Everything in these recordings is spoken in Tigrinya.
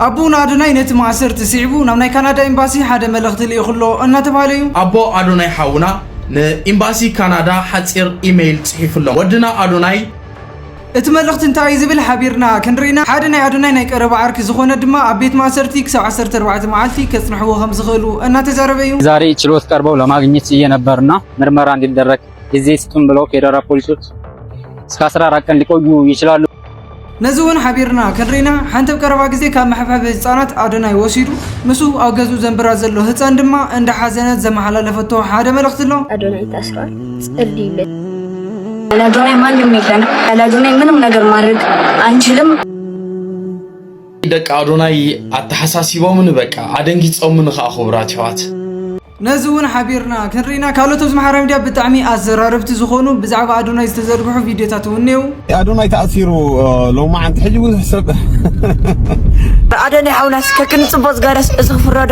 ኣቦና ኣዶናይ ነቲ ማእሰርቲ ስዒቡ ናብ ናይ ካናዳ ኤምባሲ ሓደ መልእኽቲ ልኢኹ ኣሎ እናተባህለ እዩ። ኣቦ ኣዶናይ ሓውና ንኢምባሲ ካናዳ ሓጺር ኢመይል ጽሒፉሎም። ወድና ኣዶናይ! እቲ መልእኽቲ እንታይ እዩ ዝብል ሓቢርና ክንርኢ ኢና። ሓደ ናይ ኣዶናይ ናይ ቀረባ ዓርኪ ዝኾነ ድማ ኣብ ቤት ማእሰርቲ ክሳብ ዓሰርተ ኣርባዕተ መዓልቲ ከጽንሕዎ ከምዝኽእሉ እናተዛረበ እዩ። ዛሬ ችሎት ቀርበው ለማግኘት ችዬ ነበር እና ምርመራ እንዲደረግ ጊዜ ስጡን ብለው ፌደራል ፖሊሶች እስከ 14 ቀን ሊቆዩ ይችላሉ። ነዚ እውን ሓቢርና ክንሪና ሓንቲ ኣብ ቀረባ ግዜ ካብ መሐብሐቢ ህጻናት ኣዶናይ ወሲዱ ምስ ኣብ ገዝኡ ዘንብራ ዘሎ ህጻን ድማ እንዳ ሓዘነት ዘመሓላለፈቶ ሓደ መልእኽቲ ኣሎ። ኣዶናይ ታስሯል ጸልዩለይ። ያለ አዶናይ ማንም የለን። ያለ አዶናይ ምንም ነገር ማድረግ አንችልም። ደቂ ኣዶናይ ኣተሓሳሲቦምኒ በቃ ኣደንጊጾምኒ ከኣ ክቡራት ኣሕዋት ነዚ ውን ሓቢርና ክንርኢ ኢና። ካልኦት ኣብዚ ማሕበራዊ ሚድያ ብጣዕሚ ኣዘራረብቲ ዝኾኑ ብዛዕባ ኣዶናይ ዝተዘርግሑ ቪድዮታት ውን እኔዉ። ኣዶናይ ተኣሲሩ ሎማዓንቲ ሕጂ ብዙሕ ሰብ። ኣዶናይ ሓውና እስከ ክንጽቦ ዝገረስ እዚ ክፍረዶ።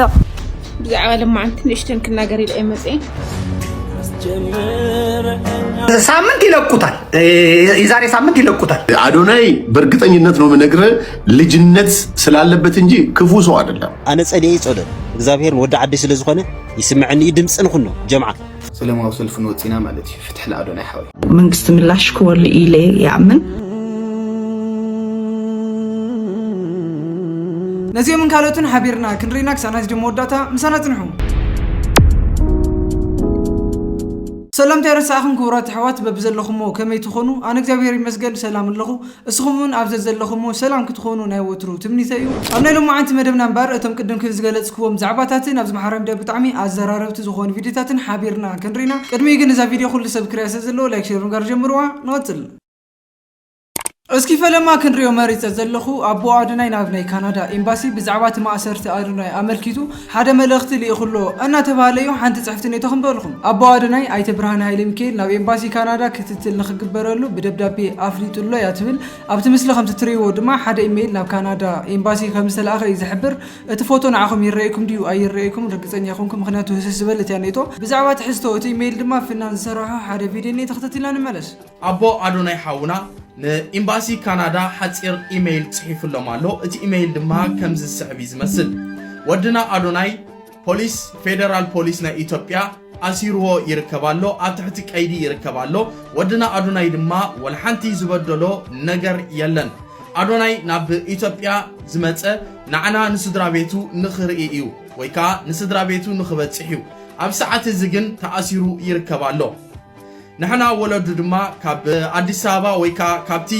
ብዛዕባ ሎማዓንቲ ንእሽተን ክናገር ኢለ እየ መጽኤ። ሳምንት ይለቁታል፣ የዛሬ ሳምንት ይለቁታል። ኣዶናይ በእርግጠኝነት ነው ምነግርህ ልጅነት ስላለበት እንጂ ክፉ ሰው አይደለም። ኣነ ጸልየ ይጸሎት እግዚኣብሔር ወዲ ዓዲ ስለ ዝኾነ ይስምዐኒ እዩ ድምፂ ንኹኖ ጀምዓ ሰለማዊ ሰልፊ ንወፂና ማለት እዩ ፍትሒ ንኣዶናይ ሓወይ መንግስቲ ምላሽ ክወሉ ኢለ ይኣምን ነዚኦምን ካልኦትን ሓቢርና ክንርኢና ክሳብ ናይ ቪድዮ መወዳእታ ምሳና ጽንሑ ሰላምታ ይረሳዕኹም ክቡራት ኣሕዋት በብዘለኹሞ ከመይ ትኾኑ ኣነ እግዚኣብሔር ይመስገን ሰላም ኣለኹ እስኹም ውን ኣብ ዘዘለኹሞ ሰላም ክትኾኑ ናይ ወትሩ ትምኒተይ ዩ። ኣብ ናይ ሎማዓንቲ መደብና እምበር እቶም ቅድም ክብል ዝገለጽክዎም ዛዕባታትን ኣብ ዝመሓረ መደብ ብጣዕሚ ኣዘራረብቲ ዝኾኑ ቪድዮታትን ሓቢርና ክንርኢ ኢና። ቅድሚኡ ግን እዛ ቪድዮ ኩሉ ሰብ ክሪኣ ስለ ዘለዎ ላይክ ሸር ብምግባር ጀምርዋ። ንቕጽል። እስኪ ፈለማ ክንሪኦ መሪጸ ዘለኹ ኣቦ ኣዶናይ ናብ ናይ ካናዳ ኤምባሲ ብዛዕባ እቲ ማእሰርቲ ኣዶናይ ኣመልኪቱ ሓደ መልእኽቲ ልኢኹ ኣሎ እናተብሃለ'ዩ ሓንቲ ጽሕፍቲ ኔቶ ክንበልኹም። ኣቦዋደናይ ኣይተ ብርሃነ ሃይለሚካኤል ናብ ኤምባሲ ካናዳ ክትትል ንኽግበረሉ ብደብዳቤ ኣፍሊጡ ኣሎ'ያ ትብል። ኣብቲ ምስሊ ከምቲ ትርእይዎ ድማ ሓደ ኢመይል ናብ ካናዳ ኤምባሲ ከምዝተላእኸ እዩ ዝሕብር። እቲ ፎቶ ንዓኹም ይረኣየኩም ድዩ ኣይረኣየኩምን ርግጸኛ ኣይኮንኩን ምኽንያቱ ህስስ ዝበለት'ያ ኔቶ። ብዛዕባ ትሕዝቶ እቲ ኢመይል ድማ ፍናን ዝሰራሖ ሓደ ቪድዮ እኒኤ ተኽተቲልና ንመለስ። ኣቦ ኣዶናይ ሓውና ን ኢምባሲ ካናዳ ሓጺር ኢመይል ጽሒፉሎም ኣሎ እቲ ኢመይል ድማ ከምዚ ዝስዕብ እዩ ዝመስል ወድና ኣዶናይ ፖሊስ ፌደራል ፖሊስ ናይ ኢትዮጵያ ኣሲርዎ ይርከብ ኣሎ ኣብ ትሕቲ ቀይዲ ይርከብ ኣሎ ወድና ኣዶናይ ድማ ወልሓንቲ ዝበደሎ ነገር የለን ኣዶናይ ናብ ኢትዮጵያ ዝመጸ ንዓና ንስድራ ቤቱ ንኽርኢ እዩ ወይ ከዓ ንስድራ ቤቱ ንኽበጽሕ እዩ ኣብ ሰዓት እዚ ግን ተኣሲሩ ይርከብ ኣሎ ንሕና ወለዱ ድማ ካብ ኣዲስ ኣበባ ወይ ከዓ ካብቲ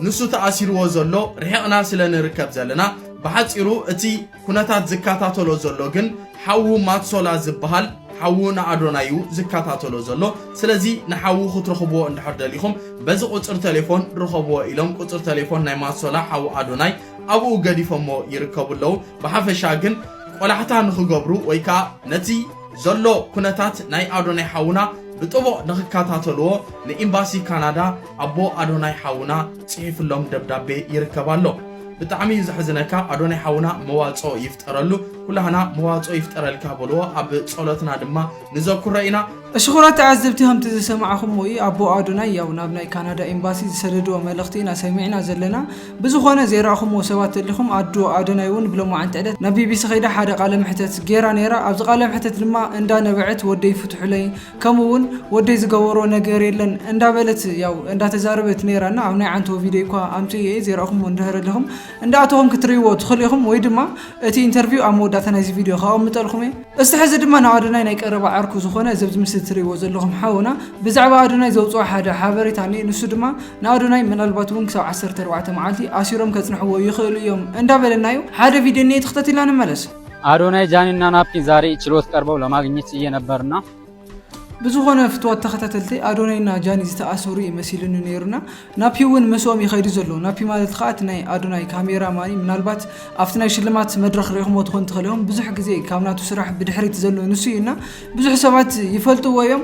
ንሱ ተኣሲርዎ ዘሎ ርሒቕና ስለ ንርከብ ዘለና ብሓፂሩ እቲ ኩነታት ዝከታተሎ ዘሎ ግን ሓዉ ማትሶላ ዝበሃል ሓዉ ንኣዶናይ እዩ ዝከታተሎ ዘሎ ስለዚ ንሓዉ ክትረኽብዎ እንድሕር ደሊኹም በዚ ቁፅሪ ቴሌፎን ርኸብዎ ኢሎም ቁፅሪ ቴሌፎን ናይ ማትሶላ ሓዉ ኣዶናይ ኣብኡ ገዲፎሞ ይርከቡ ኣለዉ ብሓፈሻ ግን ቆላሕታ ንኽገብሩ ወይ ከዓ ነቲ ዘሎ ኩነታት ናይ ኣዶናይ ሓውና ብጥቡቕ ንኽከታተልዎ ንኢምባሲ ካናዳ ኣቦ ኣዶናይ ሓውና ጽሒፍሎም ደብዳቤ ይርከብ ኣሎ። ብጣዕሚ እዩ ዘሕዝነካ ኣዶናይ ሓውና መዋጽኦ ይፍጠረሉ ኩላህና መዋጽኦ ይፍጠረልካ በልዎ ኣብ ጸሎትና ድማ ንዘኩሮ ኢና። ሽኾራት ተዓዘብቲ ከምቲ ዝሰማዕኹምዎ እዩ ኣቦ ኣዶናይ ያው ናብ ናይ ካናዳ ኤምባሲ ዝሰደድዎ መልእኽቲ ኢና ሰሚዕና ዘለና። ብዝኾነ ዘይረኣኹምዎ ሰባት ተሊኹም ኣዶ ኣዶናይ ውን ብሎማዓንቲ ዕለት ናብ ቢቢሲ ከይዳ ሓደ ቃለ መሕተት ጌራ ኔራ ኣብዚ ቃለ መሕተት ድማ እንዳ ነበዐት ወደይ ፍትሑለይ ከምኡ ውን ወደይ ዝገበሮ ነገር የለን እንዳ በለት ያው እንዳ ተዛረበት ኔራ እና ኣብ ናይ ዓንተቦ ቪደዮ እኳ ኣምጺኤ እየ ዘይረኣኹምዎ እንድህር ኣለኹም እንዳ ኣተኹም ክትርእይዎ ትኽእሉ ኢኹም ወይ ድማ እቲ ኢንተርቪው ኣብ መወዳእታ ናይዚ ቪደዮ ከቐምጠልኩም እየ እስቲ ሕዚ ድማ ናብ ኣዶናይ ናይ ቀረባ ዓርኩ ዝኾነ እዚ ኣብዚ ምስሊ ትርእይዎ ዘለኹም ሓውና ብዛዕባ ኣዶናይ ዘውጽኦ ሓደ ሓበሬታ እኒኤ ንሱ ድማ ንኣዶናይ ምናልባት እውን ክሳብ ዓሰርተ ኣርባዕተ መዓልቲ ኣሲሮም ከጽንሕዎ ይኽእሉ እዮም እንዳበለናዩ ሓደ ቪድዮ እኒኤ ተኽተቲልና ንመለስ። ኣዶናይ ጃኒ እና ናፒ ዛሬ ችሎት ቀርበው ለማግኘት ችዬ ነበር እና ብዝኾነ ፍትዋት ተኸታተልቲ ኣዶናይና ጃኒ ዝተኣሰሩ እዩ መሲሉኒ ነይሩና ናፒ እውን ምስኦም ይኸይዱ ዘሎ ናፒ ማለት ከዓ እቲ ናይ ኣዶናይ ካሜራ ማኒ ምናልባት ኣብቲ ናይ ሽልማት መድረኽ ሪኢኹሞ ትኾን ትኽእል ኢኹም ብዙሕ ግዜ ካብ ናቱ ስራሕ ብድሕሪት ዘሎ ንሱ እዩ እና ብዙሕ ሰባት ይፈልጥዎ እዮም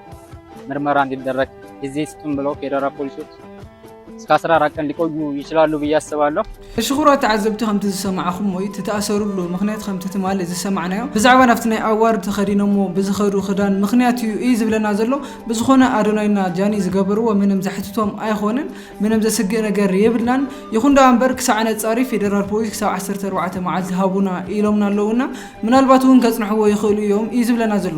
ምርመራ እንዲደረግ ጊዜ ስጡን ብለው ፌዴራል ፖሊሶች እስከ 14 ቀን ሊቆዩ ይችላሉ ብዬ አስባለሁ። ሕሽኹራ ተዓዘብቲ ከምቲ ዝሰማዕኹሞ እዩ እቲ ተኣሰርሉ ምኽንያት ከምቲ ትማሊ ዝሰማዕናዮ ብዛዕባ ናብቲ ናይ ኣዋርድ ተኸዲኖሞ ብዝኸዱ ኽዳን ምኽንያት እዩ እዪ ዝብለና ዘሎ ብዝኾነ ኣዶናይና ጃኒ ዝገበርዎ ምንም ዘሕትቶም ኣይኾነን ምንም ዘስግእ ነገር የብልናን ይኹን ደኣ እምበር ክሳዕ ነጻሪ ፌደራል ፖሊስ ክሳብ ዓሰርተ ኣርባዕተ መዓልቲ ሃቡና ኢሎምና ኣለዉ እና ምናልባት እውን ከጽንሕዎ ይኽእሉ እዮም እዩ ዝብለና ዘሎ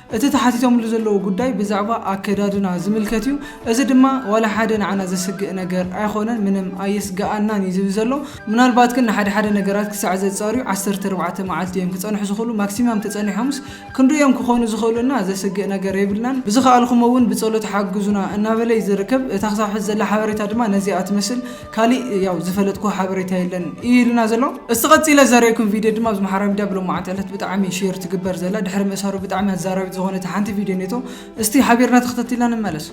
እቲ ተሓቲቶምሉ ዘለዉ ጉዳይ ብዛዕባ ኣከዳድና ዝምልከት እዩ፣ እዚ ድማ ዋላ ሓደ ንዓና ዘስግእ ነገር ኣይኾነን፣ ምንም ኣየስግኣናን እዩ ዝብል ዘሎ። ምናልባት ግን ንሓደ ሓደ ነገራት ክሳዕ ዘጻርዩ ዓሰርተ ኣርባዕተ መዓልቲ እዮም ክጸንሑ ዝኽእሉ፣ ማክሲማም ተጸኒሖምስ ክንርእዮም ክኾኑ ዝኽእሉ እና ዘስግእ ነገር የብልናን፣ ብዝኸኣልኩሞ እውን ብጸሎት ሓግዙና እናበለ እዩ ዝርከብ፣ እታ ክሳብ ሕዚ ዘላ ሓበሬታ ድማ ነዚኣ ትመስል። ካሊእ ያው ዝፈለጥክዎ ሓበሬታ የለን እዩ ኢሉና ዘሎ። እስቲ ቀጺለ ዘርእየኩም ቪድዮ ድማ ኣብዚ ማሕበራዊ ሚድያ ብሎማዓንቲ ዕለት ብጣዕሚ ሼር ትግበር ዘላ ድሕሪ ምእሳሩ ብጣዕሚ ኣዛራቢት ዝኾነት ሓንቲ ቪድዮ ኔቶ። እስቲ ሓቢርና ተኸታቲልና ንመለስ።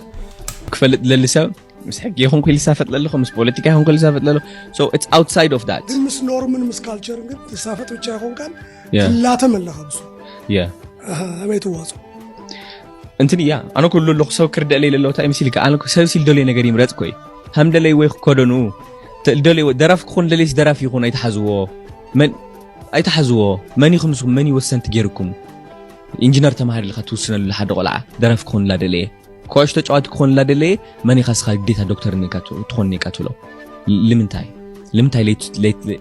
ክፈልጥ ዝደሊ ሰብ ምስ ሕጊ ይኹን ክኢሉ ዝሳፈጥ ለለኹ ምስ ፖለቲካ ይኹን ክኢሉ ዝሳፈጥ ለለኹ ሶ ኢትስ ኣውትሳይድ ኦፍ ዳት ግን ምስ ኖርምን ምስ ካልቸርን ግን ትሳፈጥ ብቻ ይኾንካን Yeah. ትላተም ኣለኻ ብሱ Yeah. ኣበይ ትዋፅኦ እንትን እያ ኣነ ኩሉ ኣለኹ ሰብ ክርደእ ለይ ለለውታ እዩ መሲልካ ኣነ ሰብ ሲል ደልዮ ነገር ይምረጽ ኮይ ሃም ደለይ ወይ ክከደኑ ደልዮ ደራፍ ክኾን ደልይስ ደራፍ ይኹን ኣይተሓዝዎ መን ኣይተሓዝዎ መን ይኹም ንስኹም መን ይወሰንቲ ጌርኩም ኢንጂነር ተማሃር ኢልካ ትውስነሉ ሓደ ቆልዓ ደራፍ ክኾን ላደለየ ኩዕሽ ተጫዋቲ ክኾን ላደለየ መን ኢኻ ስኻ ግዴታ ዶክተር ትኾን ኔካ ትብሎ ልምንታይ ልምንታይ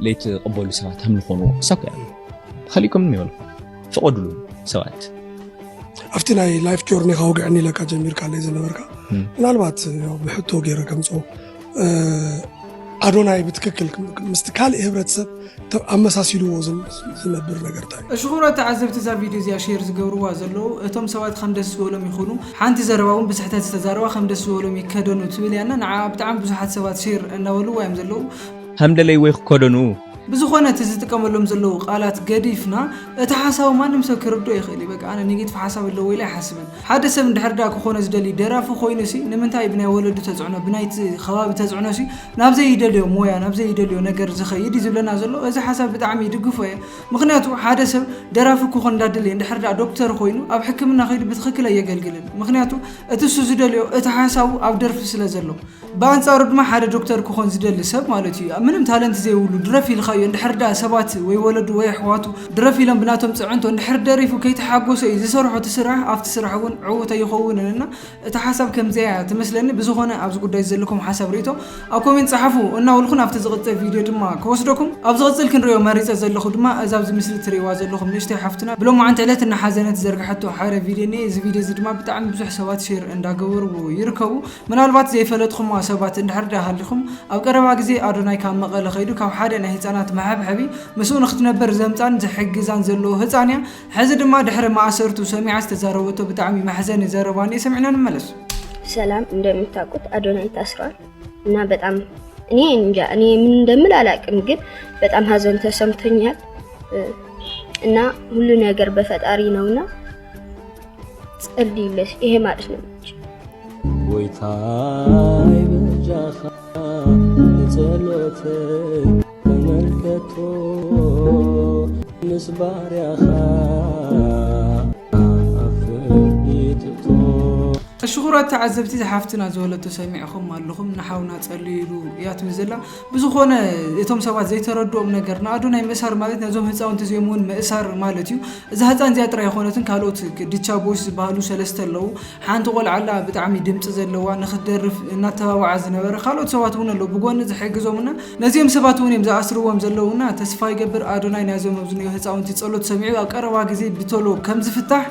ለይትቕበሉ ሰባት ሃም ዝኾኑ ሳኮ እያ ተኸሊእኩም ይበሉ ፍቐድሉ ሰባት ኣብቲ ናይ ላይፍ ጆርኒካ ውግዕኒ ኢለካ ጀሚርካ ለይ ዝነበርካ ምናልባት ብሕቶ ገይረ ከምፆ ኣዶናይ ብትክክል ምስቲ ካልእ ህብረተሰብ ኣመሳሲልዎ ዝነብር ነገር ታይ እዩ? ሽኹሮ ተዓዘብቲ እዛ ቪድዮ እዚኣ ሼር ዝገብርዋ ዘለዉ እቶም ሰባት ከም ደስ ዝበሎም ይኹኑ ሓንቲ ዘረባ እውን ብስሕተት ዝተዛረባ ከም ደስ ዝበሎም ይከደኑ ትብል እያ እና ንዓ ብጣዕሚ ብዙሓት ሰባት ሼር እናበልዋ እዮም ዘለዉ ከም ደለይዎ ይክከደኑ ብዝኾነ እቲ ዝጥቀመሎም ዘለዉ ቃላት ገዲፍና እቲ ሓሳቡ ማንም ሰብ ክርድኦ ይኽእል እዩ በቃ ኣነ ኔጌቲቭ ሓሳብ ኣለዎ ኢለ ኣይሓስብን ሓደ ሰብ እንድሕር ደኣ ክኾኖ ዝደሊ ደራፊ ኮይኑሲ ንምንታይ ብናይ ወለዱ ተጽዕኖ ብናይቲ ከባቢ ተጽዕኖሲ ናብ ዘይደልዮ ሞያ ናብ ዘይደልዮ ነገር ዝኸይድ እዩ ዝብለና ዘሎ እዚ ሓሳብ ብጣዕሚ ይድግፎ እየ ምኽንያቱ ሓደ ሰብ ደራፊ ክኾን እንዳደለየ እንድሕር ደኣ ዶክተር ኮይኑ ኣብ ሕክምና ከይዱ ብትኽክል ኣየገልግልን ምኽንያቱ እቲ እሱ ዝደልዮ እቲ ሓሳቡ ኣብ ደርፊ ስለ ዘሎ ብኣንጻሩ ድማ ሓደ ዶክተር ክኾን ዝደሊ ሰብ ማለት እዩ ምንም ታለንት ዘይብሉ ድረፍ ኢልኻዮ እንድሕር ደኣ ሰባት ወይ ወለዱ ወይ ኣሕዋቱ ድረፍ ኢሎም ብናቶም ጽዕንቶ እንድሕር ደሪፉ ከይተሓጎሰ እዩ ዝሰርሖ እቲ ስራሕ ኣብቲ ስራሕ እውን ዕዉት ኣይኸውንን እና እታ ሓሳብ ከምዚኣ እያ ትመስለኒ ብዝኾነ ኣብዚ ጉዳይ ዘለኩም ሓሳብ ርእይቶ ኣብ ኮሜንት ጸሓፉ እናበልኩ ናብቲ ዝቕጽል ቪድዮ ድማ ክወስደኩም ኣብ ዝቕጽል ክንሪኦ መሪጸ ዘለኹ ድማ እዛ ኣብዚ ምስሊ ትርእይዋ ዘለኹም ንእሽተይ ሓፍትና ብሎማዓንቲ ዕለት እናሓዘነት ዝዘርግሐቶ ሓደ ቪድዮ እኒኤ እዚ ቪድዮ እዚ ድማ ብጣዕሚ ብዙሕ ሰባት ሼር እንዳገበርዎ ይርከቡ ምናልባት ዘይፈለጥኹማ ሰባት እንድሕር ድኣ ሃሊኹም፣ ኣብ ቀረባ ግዜ ኣዶናይ ካብ መቐለ ከይዱ ካብ ሓደ ናይ ህጻናት መሐብሐቢ ምስኡ ንኽትነብር ዘምጻን ዝሕግዛን ዘለዎ ህጻን እያ ሕዚ ድማ ድሕሪ ማእሰርቱ ሰሚዓ ዝተዛረበቶ ብጣዕሚ መሕዘኒ ዘረባ እንኤ ሰሚዕና ንመለስ። ሰላም እንደምታውቁት አዶናይ ታስሯል እና በጣም እኔ እንጃ እኔ ምን እንደምል አላቅም፣ ግን በጣም ሀዘን ተሰምቶኛል እና ሁሉ ነገር በፈጣሪ ነውና ጸልዩለሽ ይሄ ማለት ነው እንጂ ጎይታይ በጃኻ ንጸሎተይ ተመልከቶ ምስ ባርያኻ ኣፍርኢትቶ ተሽኹራት ተዓዘብቲ እዛ ሓፍትና ዝበለቶ ሰሚዕኹም ኣለኹም ንሓውና ጸልዩ ኢሉ እያ ትብል ዘላ ብዝኾነ እቶም ሰባት ዘይተረድኦም ነገር ንኣዶናይ ምእሳር ማለት ነዞም ህፃውንቲ እዚኦም እውን ምእሳር ማለት እዩ። እዛ ህፃን እዚኣ ጥራይ ኣይኾነትን ካልኦት ድቻ ቦይስ ዝበሃሉ ሰለስተ ኣለዉ። ሓንቲ ቆልዓ ኣላ ብጣዕሚ ድምፂ ዘለዋ ንክትደርፍ እናተባብዓ ዝነበረ ካልኦት ሰባት እውን ኣለዉ ብጎኒ ዝሕግዞም እና ነዚኦም ሰባት እውን እዮም ዝኣስርዎም ዘለዉ እና ተስፋ ይገብር ኣዶናይ ናይዞም ኣብዝኒኦ ህፃውንቲ ፀሎት ሰሚዑ ኣብ ቀረባ ግዜ ብቶሎ ከምዝፍታሕ።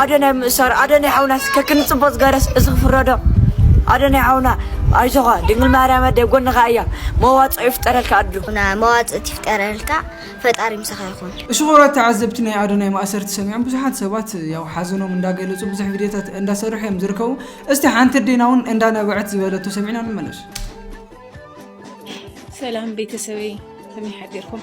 ኣደናይ ምእሳር ኣደናይ ሓውና ከክንጽቦ ዝገረስ እዚ ክፍረዶ ኣደናይ ሓውና ኣይዞኻ ድንግል ማርያም ኣደ ጎንኻ እያ መዋጽኦ ይፍጠረልካ ኣዱ ና መዋጽእት ይፍጠረልካ ፈጣሪ ምሳኻ ይኹን። እሺ ክቡራት ተዓዘብቲ ናይ ኣዶናይ ማእሰርቲ ሰሚዖም ብዙሓት ሰባት ያው ሓዘኖም እንዳገለፁ ብዙሕ ቪድዮታት እንዳሰርሑ እዮም ዝርከቡ እስቲ ሓንቲ ኣዴና እውን እንዳነበዐት ዝበለቶ ሰሚዕና ንመለስ ሰላም ቤተሰበይ ከመይ ሓዲርኩም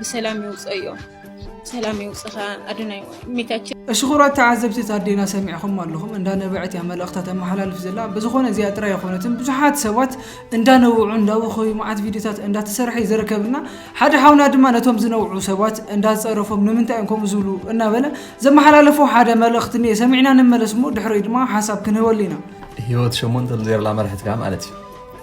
ብሰላም ይውፀዮ ሰላም ይውፅኻ ኣዶናይ ሜታችን እሽኹራት ተዓዘብቲ ታዴና ሰሚዕኹም ኣለኹም እንዳነበዐት እያ መልእኽታ ተመሓላልፍ ዘላ ብዝኾነ እዚኣ ጥራይ ኣይኮነትን ብዙሓት ሰባት እንዳነውዑ እንዳወኸዩ መዓት ቪድዮታት እንዳተሰርሐ እዩ ዝርከብና ሓደ ሓውና ድማ ነቶም ዝነውዑ ሰባት እንዳፀረፎም ንምንታይ እዮም ከምኡ ዝብሉ እናበለ ዘመሓላለፎ ሓደ መልእኽቲ እኒአ ሰሚዕና ንመለስ እሞ ድሕረይ ድማ ሓሳብ ክንህበሉ ኢና ህይወት ሸሞንተ ዜርላ መርሕትካ ማለት እዩ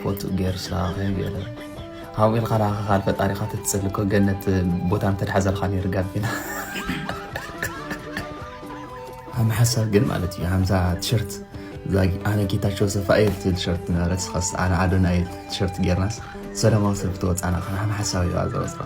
ፎቶ ገርሳ ከም ገለ ካብኡ ኢልካ ንዓኻ ፈጣሪኻ ተትፅሊ እኮ ገነት ቦታ እንተድሓዘልካ ነይሩ ጋቢና ኣነ ሓሳብ ግን ማለት እዩ ከምዛ ቲሸርት ኣነ ጌታቸው ሰፋ እየ ትብል ቲሸርት ነበረት ኸስ ኣነ ኣዶና እየ ቲሸርት ጌርናስ ሰላማዊ ሰልፊ ተወፃና ከናሓን ሓሳብ እዩ ኣዘወፅራ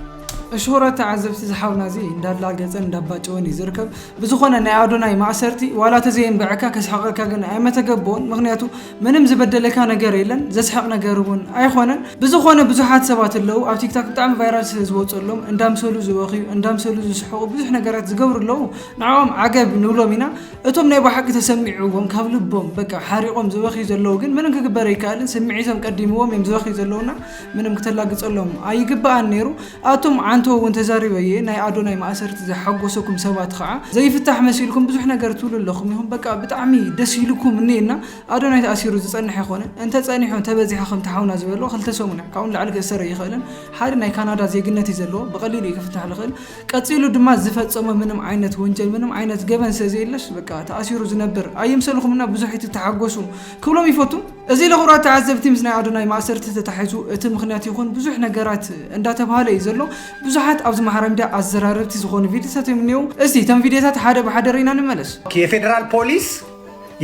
እሽሁረ ተዓዘብቲ ዝሓውና እዚ እንዳላገፀን እንዳባጨወን እዩ ዝርከብ ብዝኾነ ናይ ኣዶናይ ማእሰርቲ ዋላ ተዘየንበዐካ ከስሓቐካ ግን ኣይመተገበኦን ምክንያቱ ምንም ዝበደለካ ነገር የለን ዘስሕቅ ነገር እውን ኣይኾነን ብዝኾነ ብዙሓት ሰባት ኣለው ኣብ ቲክታክ ብጣዕሚ ቫይራል ስለ ዝወፀሎም እንዳምሰሉ ዝበኽዩ እንዳምሰሉ ዝስሕቁ ብዙሕ ነገራት ዝገብሩ ኣለው ንዕኦም ዓገብ ንብሎም ኢና እቶም ናይ ባሓቂ ተሰሚዕዎም ካብ ልቦም በቃ ሓሪቆም ዝበኽዩ ዘለው ግን ምንም ክግበር ኣይከኣልን ስምዒቶም ቀዲምዎም እዮም ዝበኽዩ ዘለውና ምንም ክተላግፀሎም ኣይግበኣን ነይሩ ኣቱም ዓንተው ውን ተዛሪበ እየ ናይ ኣዶናይ ማእሰርቲ ዘሓጎሰኩም ሰባት ኸዓ ዘይፍታሕ መሲልኩም ብዙሕ ነገር ትብሉ ኣለኹም ኢኹም በቃ ብጣዕሚ ደስ ኢሉኩም እንየ እና ኣዶናይ ተኣሲሩ ዝፀንሕ ኣይኾነን እንተ ፀኒሑ እንተ በዚሐ ከምቲ ሓውና ዝበሎ ክልተ ሰሙን እያ ካብኡ ንላዕሊ ክእሰር ኣይኽእልን ሓደ ናይ ካናዳ ዜግነት እዩ ዘለዎ ብቀሊሉ እዩ ክፍታሕ ልኽእል ቀፂሉ ድማ ዝፈፀሞ ምንም ዓይነት ወንጀል ምንም ዓይነት ገበን ስለዘየለስ በቃ ተኣሲሩ ዝነብር ኣይምሰልኹም እና ብዙሕ ኣይትተሓጎሱ ክብሎም ይፈቱ። እዚ ለኹራት ተዓዘብቲ ምስ ናይ ኣዶናይ ማእሰርቲ ተታሒዙ እቲ ምኽንያት ይኹን ብዙሕ ነገራት እንዳተብሃለ እዩ ዘሎ። ብዙሓት ኣብዚ ማሕራ ሚድያ ኣዘራረብቲ ዝኾኑ ቪድዮታት እዮም እኒኤው። እስቲ እቶም ቪድዮታት ሓደ ብሓደ ርኢና ንመለስ። የፌደራል ፖሊስ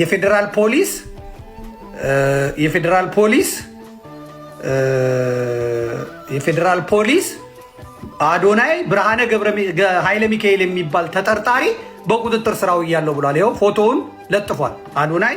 የፌደራል ፖሊስ የፌደራል ፖሊስ የፌደራል ፖሊስ አዶናይ ብርሃነ ኃይለ ሚካኤል የሚባል ተጠርጣሪ በቁጥጥር ስራው እያለው ብሏል። ይኸው ፎቶውን ለጥፏል አዶናይ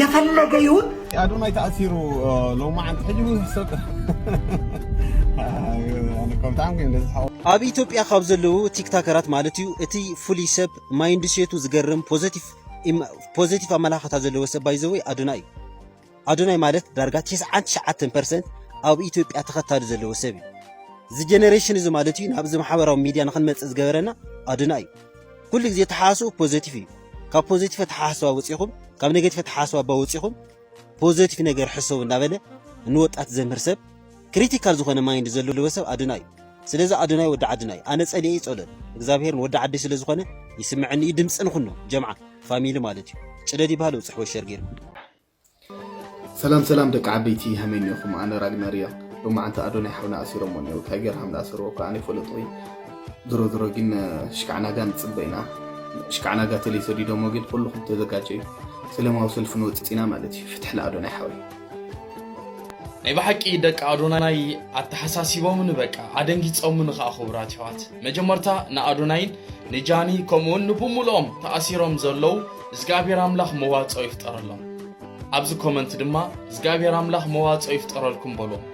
የፈለገ ይሁን ኣዶናይ ተኣሲሩ ሎማዓንቲ ሕጂ እውን ክሰጥ ኣብ ኢትዮጵያ ካብ ዘለዉ ቲክታከራት ማለት እዩ እቲ ፍሉይ ሰብ ማይንድ ሴቱ ዝገርም ፖዘቲቭ ኣመላኽታ ዘለዎ ሰብ ባይዘወይ ኣዶናይ እዩ ኣዶናይ ማለት ዳርጋ 99 ፐርሰንት ኣብ ኢትዮጵያ ተኸታሊ ዘለዎ ሰብ እዩ እዚ ጀነሬሽን እዚ ማለት እዩ ናብዚ ማሕበራዊ ሚድያ ንክንመፅእ ዝገበረና ኣዶናይ እዩ ኩሉ ግዜ ተሓሳስቡ ፖዘቲቭ እዩ ካብ ፖዘቲቭ ተሓሳስባ ወፂኹም ካብ ኔጌቲቭ ተሓሳስባ ባ ወፂኹም ፖዘቲቭ ነገር ሕሰቡ እንዳበለ ንወጣት ዘምህር ሰብ ክሪቲካል ዝኾነ ማይንድ ዘለዎ ሰብ ኣዶናይ እዩ ስለዚ ኣዶናይ ወዲ ዓድና እዩ ኣነ ፀሊኤ ይፀሎን እግዚኣብሔር ወዲ ዓዲ ስለ ዝኾነ ይስምዐኒ እዩ ድምፂ ንኹኖ ጀምዓ ፋሚሊ ማለት እዩ ጭደድ ይበሃል ውፅሕ ወሸር ገይርኩም ሰላም ሰላም ደቂ ዓበይቲ ሃመይ ኔኹም ኣነ ራግነር እያ ሎማዓንቲ ኣዶናይ ሓውና ኣሲሮሞ እኔው ታይገር ሃም ዝኣሰርዎ እኳ ኣነ ይፈለጦ እዩ ድሮ ድሮ ግን ሽካዕናጋ ንፅበ ኢና ሽካዕናጋ ተለይ ሰዲዶሞ ግን ኩልኹም ተዘጋጀዩ ሰለማዊ ሰልፊ ንወፅፅ ኢና ማለት እዩ ፍትሒ ንኣዶናይ ሓወይ ናይ ብሓቂ ደቂ ኣዶናይ ኣተሓሳሲቦምን በቃ ኣደንጊፆምን ከዓ ክቡራት ኣሕዋት መጀመርታ ንኣዶናይን ንጃኒ ከምኡውን ንብሙልኦም ተኣሲሮም ዘለዉ እዝግኣብሄር ኣምላኽ መዋጽኦ ይፍጠረሎም። ኣብዚ ኮመንት ድማ እዝግኣብሄር ኣምላኽ መዋጽኦ ይፍጠረልኩም በልዎም።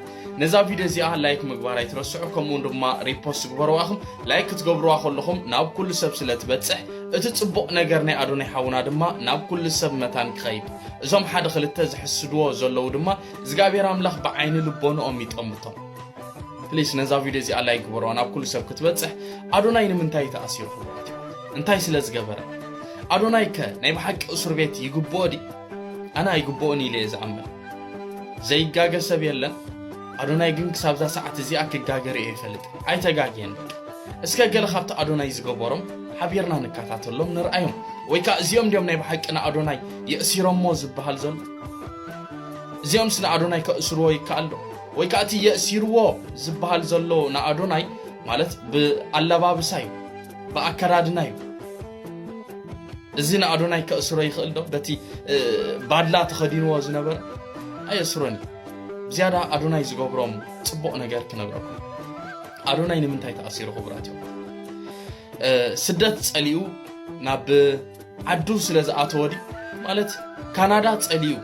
ነዛ ቪድዮ እዚኣ ላይክ ምግባር ኣይትረስዑ ከምኡውን ድማ ሪፖስት ግበርዋ ኢኹም ላይክ ክትገብርዋ ከለኹም ናብ ኩሉ ሰብ ስለ ትበጽሕ እቲ ጽቡቕ ነገር ናይ ኣዶናይ ሓውና ድማ ናብ ኩሉ ሰብ መታን ክኸይድ እዞም ሓደ ክልተ ዝሕስድዎ ዘለዉ ድማ እግዚኣብሔር ኣምላኽ ብዓይኒ ልቦንኦም ይጠምቶም ፕሊስ ነዛ ቪድዮ እዚኣ ላይክ ግበርዋ ናብ ኩሉ ሰብ ክትበጽሕ ኣዶናይ ንምንታይ ተኣሲሩ ክብራት እዩ እንታይ ስለ ዝገበረ? ኣዶናይከ ናይ ብሓቂ እሱር ቤት ይግብኦ ድዩ? ኣነ ኣይግብኦን ኢለ እየ ዝኣምን። ዘይጋገ ሰብ የለን፣ ኣዶናይ ግን ክሳብዛ ሰዓት እዚኣ ክጋገ ርእዮ ኣይፈልጥን። ኣይተጋግየን በቃ። እስከ ገለ ካብቲ ኣዶናይ ዝገበሮም ሓቢርና ንከታተሎም ንርኣዮም። ወይ ከዓ እዚኦም ድዮም ናይ ብሓቂ ንኣዶናይ የእሲሮሞ ዝበሃል ዘሎ? እዚኦምስ ንኣዶናይ ከእስርዎ ይከኣል ዶ? ወይ ከዓ እቲ የእሲርዎ ዝበሃል ዘሎ ንኣዶናይ ማለት ብኣለባብሳ እዩ። ብኣከዳድና እዩ እዚ ንኣዶናይ ከእስሮ ይኽእል ዶ በቲ ባድላ ተኸዲንዎ ዝነበረ ኣየእስሮን እዩ ብዝያዳ ኣዶናይ ዝገብሮም ፅቡቕ ነገር ክነግረኩም ኣዶናይ ንምንታይ ተኣሲሩ ክቡራት እዮም ስደት ፀሊኡ ናብ ዓዱ ስለ ዝኣተወ ድዩ ማለት ካናዳ ፀሊኡ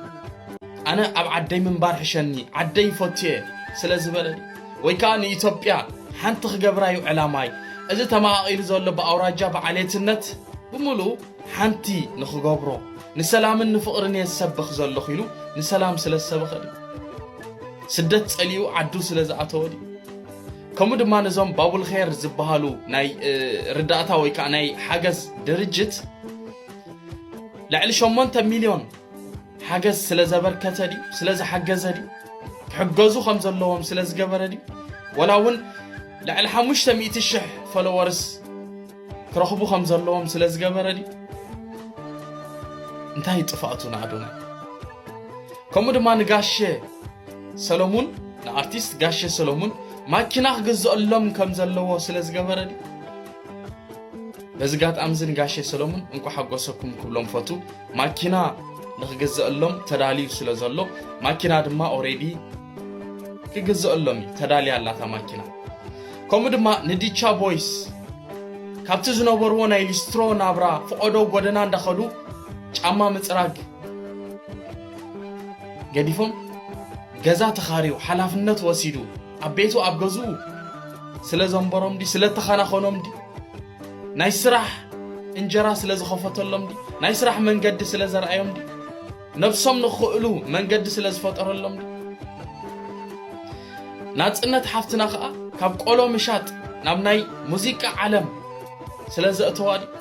ኣነ ኣብ ዓደይ ምንባር ሕሸኒ ዓደይ ፈትየ ስለ ዝበለ ወይ ከኣ ንኢትዮጵያ ሓንቲ ክገብራ ዩ ዕላማይ። እዚ ተመቓቒሉ ዘሎ ብኣውራጃ ብዓሌትነት ብምሉኡ ሓንቲ ንክገብሮ። ንሰላምን ንፍቕርን እየ ዝሰብኽ ዘለኹ ኢሉ ንሰላም ስለ ዝሰበኸ ድዩ? ስደት ጸሊኡ ዓዱ ስለ ዝኣተወ ድዩ? ከምኡ ድማ ነዞም ባቡልኼር ዝበሃሉ ናይ ርዳእታ ወይ ከኣ ናይ ሓገዝ ድርጅት ልዕሊ ሸሞንተ ሚልዮን ሓገዝ ስለ ዘበርከተ ድዩ ስለ ዝሓገዘ ድዩ ክሕገዙ ከም ዘለዎም ስለ ዝገበረ ድዩ ወላ እውን ልዕሊ ሓሙሽተ ሚእቲ ሽሕ ፈለወርስ ክረኽቡ ከም ዘለዎም ስለ ዝገበረ ድዩ እንታይ ጥፋእቱ ንኣዶናይ ከምኡ ድማ ንጋሸ ሰለሙን ንኣርቲስት ጋሸ ሰለሙን ማኪና ክግዘአሎም ከም ዘለዎ ስለ ዝገበረ ድዩ በዚ ጋጣሚ እዚ ንጋሸ ሰለሙን እንኳ ሓጎሰኩም ክብሎም ፈቱ ማኪና ንክግዘኣሎም ተዳልዩ ስለ ዘሎ ማኪና ድማ ኦሬዲ ክግዘኣሎም እዩ ተዳልያ ኣላ እታ ማኪና ከምኡ ድማ ንዲቻ ቦይስ ካብቲ ዝነበርዎ ናይ ሊስትሮ ናብራ ፍቐዶ ጎደና እንዳኸዱ ጫማ ምፅራግ ገዲፎም ገዛ ተኻርዩ ሓላፍነት ወሲዱ ኣብ ቤቱ ኣብ ገዝኡ ስለ ዘንበሮም ዲ ስለ ተኸናኸኖም ዲ ናይ ስራሕ እንጀራ ስለ ዝኸፈተሎም ድዩ? ናይ ስራሕ መንገዲ ስለ ዘርኣዮም ድዩ? ነብሶም ንኽእሉ መንገዲ ስለ ዝፈጠረሎም ድዩ? ናጽነት ሓፍትና ከዓ ካብ ቆሎ ምሻጥ ናብ ናይ ሙዚቃ ዓለም ስለ ዘእተዋ ድዩ?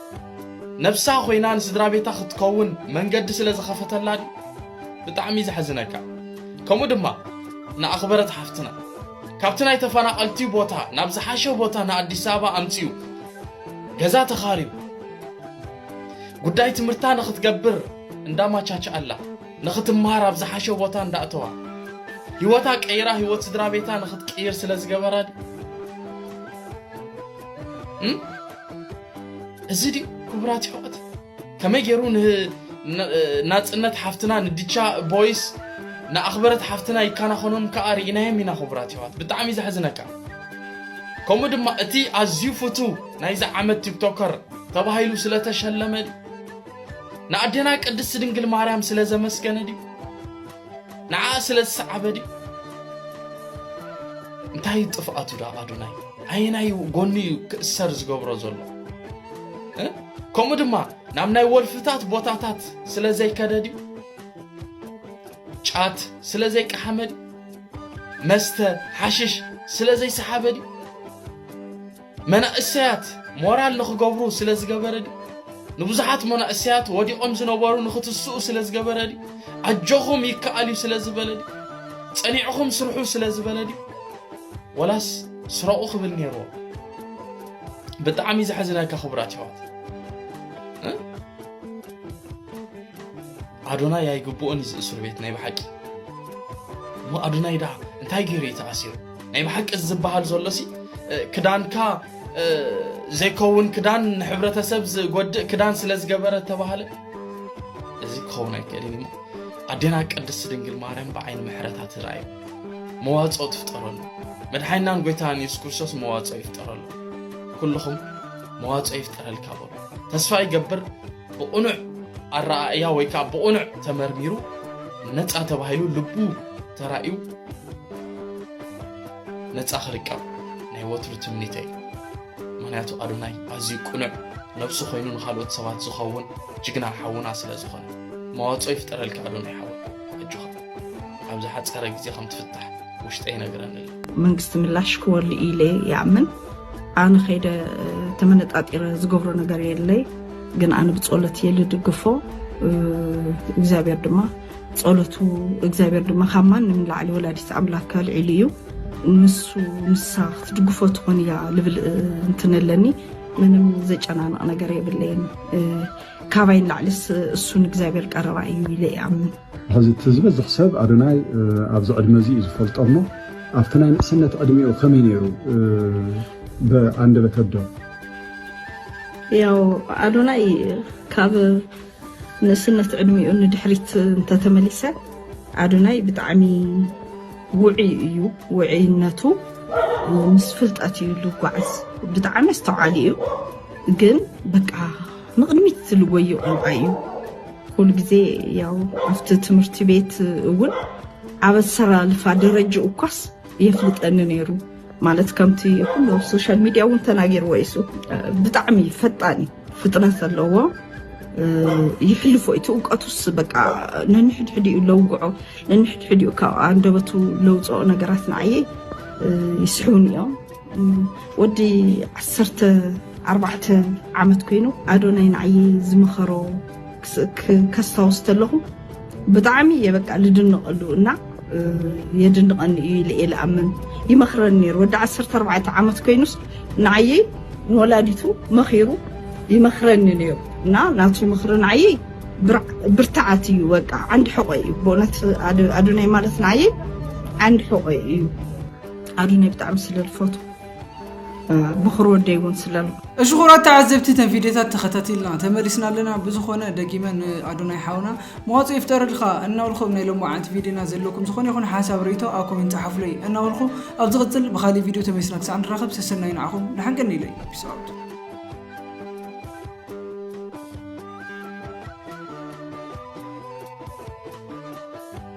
ነብሳ ኮይና ንስድራ ቤታ ክትከውን መንገዲ ስለ ዝኸፈተላ ድዩ? ብጣዕሚ ዘሕዝነካ ከምኡ ድማ ንኣኽበረት ሓፍትና ካብቲ ናይ ተፈናቐልቲ ቦታ ናብ ዝሓሸ ቦታ ንኣዲስ ኣበባ ኣምፂኡ ገዛ ተኻርዩ ጉዳይ ትምህርታ ንኽትገብር እንዳማቻችኣላ ንኽትምሃር ኣብ ዝሓሸ ቦታ እንዳእተዋ ህይወታ ቀይራ ህይወት ስድራ ቤታ ንኽትቅይር ስለ ዝገበራ እዚ ድዩ ክቡራት ይሕወት ከመይ ገይሩ ንናጽነት ሓፍትና ንድቻ ቦይስ ንኣኽበረት ሓፍትና ይከናኸኖም ከኣ ርኢናዮም ኢና ክቡራት የሕዋት ብጣዕሚ ዘሕዝነካ ከምኡ ድማ እቲ ኣዝዩ ፍቱ ናይዚ ዓመት ቲክቶከር ተባሂሉ ስለተሸለመ ንኣዴና ቅድስቲ ድንግል ማርያም ስለዘመስገነ ድዩ ንዓ ስለ ዝሰዓበ ድዩ እንታይ እዩ ጥፍኣቱ ዳ ኣዶናይ ኣየናይ ጎኒ እዩ ክእሰር ዝገብሮ ዘሎ እ? ከምኡ ድማ ናብ ናይ ወልፍታት ቦታታት ስለ ዘይከደ ድዩ ጫት ስለ ዘይቀሓመ ድዩ መስተ ሓሽሽ ስለ ዘይሰሓበ ድዩ መናእሰያት ሞራል ንኽገብሩ ስለ ዝገበረ ድዩ? ንብዙሓት መናእሰያት ወዲቖም ዝነበሩ ንኽትስኡ ስለ ዝገበረ ድዩ? ኣጆኹም ይከኣል እዩ ስለ ዝበለ ድዩ? ጸኒዕኹም ስርሑ ስለ ዝበለ ድዩ? ወላስ ስረቑ ክብል ነይርዎ? ብጣዕሚ ዘሕዝነካ ክቡራት ይዋት ኣዶናይ ኣይግብኦን እዩ ዝእስር ቤት ናይ ብሓቂ እሞ ኣዶናይ ድኣ እንታይ ገይሩ እዩ ተኣሲሩ ናይ ብሓቂ እዚ ዝበሃል ዘሎ ሲ ክዳንካ ዘይከውን ክዳን ንሕብረተሰብ ዝጎድእ ክዳን ስለ ዝገበረ ተባህለ እዚ ክኸውን ኣይክእልን እሞ ኣዴና ቅድስቲ ድንግል ማርያም ብዓይኒ ምሕረታ ትርኣዩ መዋፅኦ ትፍጠረሉ መድሓይናን ጎይታን የሱስ ክርስቶስ መዋፅኦ ይፍጠረሉ ኩልኹም መዋፅኦ ይፍጠረልካ በሉ ተስፋ ይገብር ብቕኑዕ ኣረኣእያ ወይ ከዓ ብቕኑዕ ተመርሚሩ ነፃ ተባሂሉ ልቡ ተራእዩ ነፃ ክርከብ ናይ ወትሩ ትምኒተይ ምክንያቱ ኣዶናይ ኣዝዩ ቅኑዕ ነብሱ ኮይኑ ንካልኦት ሰባት ዝኸውን ጅግና ሓውና ስለ ዝኾነ መዋፅኦ ይፍጠረልካ ኣዶናይ ሓወ ኣጆኻ ኣብ ዝሓፀረ ግዜ ከም ትፍታሕ ውሽጠ ይነግረኒ ኣሎ መንግስቲ ምላሽ ክወሉ ኢለ ይኣምን ኣነ ከይደ ተመነጣጢረ ዝገብሮ ነገር የለይ ግን ኣነ ብፀሎት እየ ልድግፎ እግዚኣብሔር ድማ ጸሎቱ እግዚኣብሔር ድማ ካብ ማንም ንላዕሊ ወላዲት ኣምላክ ኣልዒሉ እዩ ንሱ ንሳ ክትድግፎ ትኾን እያ ልብል እንትን ኣለኒ ምንም ዘጨናንቕ ነገር የብለይን ካባይ ንላዕልስ እሱ ንእግዚኣብሔር ቀረባ እዩ ኢለ ይኣምን ሕዚ እቲ ዝበዝሕ ሰብ ኣዶናይ ኣብዚ ዕድመ እዚ እዩ ዝፈልጦ እሞ ኣብቲ ናይ ንእስነት ዕድሜኡ ከመይ ነይሩ ብኣንደበት ኣዶ ያው ኣዶናይ ካብ ንእስነት ዕድሚኡ ንድሕሪት እንተተመሊሰ ኣዶናይ ብጣዕሚ ውዑይ እዩ ውዕይነቱ ምስ ፍልጠት እዩ ልጓዓዝ ብጣዕሚ ኣስተውዓሊ እዩ ግን በቃ ንቕድሚት ዝልወዩ ቆልዓ እዩ ኩሉ ግዜ ያው ኣብቲ ትምህርቲ ቤት እውን ኣብ ኣሰላልፋ ደረጅኡ እኳስ የፍልጠኒ ነይሩ ማለት ከምቲ ኩሉ ኣብ ሶሻል ሚድያ እውን ተናጊርዎ ይሱ ብጣዕሚ ፈጣን እዩ ፍጥነት ዘለዎ ይሕልፎ እቲ እውቀቱስ በቃ ነንሕድሕዲኡ ለውግዖ ነንሕድሕዲኡ ካብ ኣንደበቱ ለውፅኦ ነገራት ንዓየ ይስሕቡን እዮም ወዲ ዓሰርተ ኣርባዕተ ዓመት ኮይኑ ኣዶናይ ንዓየ ዝመኸሮ ከስታውስ ተለኹ ብጣዕሚ እየ በቃ ልድንቐሉ እና የድንቐኒ እዩ ኢለ እየ ልኣምን ይመኽረኒ ነይሩ ወዲ ዓሰርተ ኣርባዕተ ዓመት ኮይኑስ ንዓየይ ንወላዲቱ መኺሩ ይመኽረኒ ነይሩ እና ናቱ ምኽሪ ንዓየይ ብርትዓት እዩ በቃ ዓንዲ ሕቆ እዩ ብእውነት ኣዶናይ ማለት ንዓየይ ዓንዲ ሕቆ እዩ ኣዶናይ ብጣዕሚ ስለ ልፈቱ ብኹር ወደይ እውን ስለ እሺ ኩራት ተዓዘብቲ ተን ቪድዮታት ተኸታቲልና ተመሊስና ኣለና ብዝኾነ ደጊመ ንኣዶናይ ሓውና መዋፅ ይፍጠረልካ እናበልኩ ኣብ ናይ ሎሚ ዓንቲ ቪድዮና ዘለኩም ዝኾነ ይኹን ሓሳብ ርእቶ ኣብ ኮሜንት ፀሓፉለይ እናበልኩ ኣብ ዝቕፅል ብካሊእ ቪድዮ ተመሊስና ክሳዕ ንራኸብ ሰሰናዩ ንዓኹም ንሓንቀኒ ኢለይ ፒስ ኣውት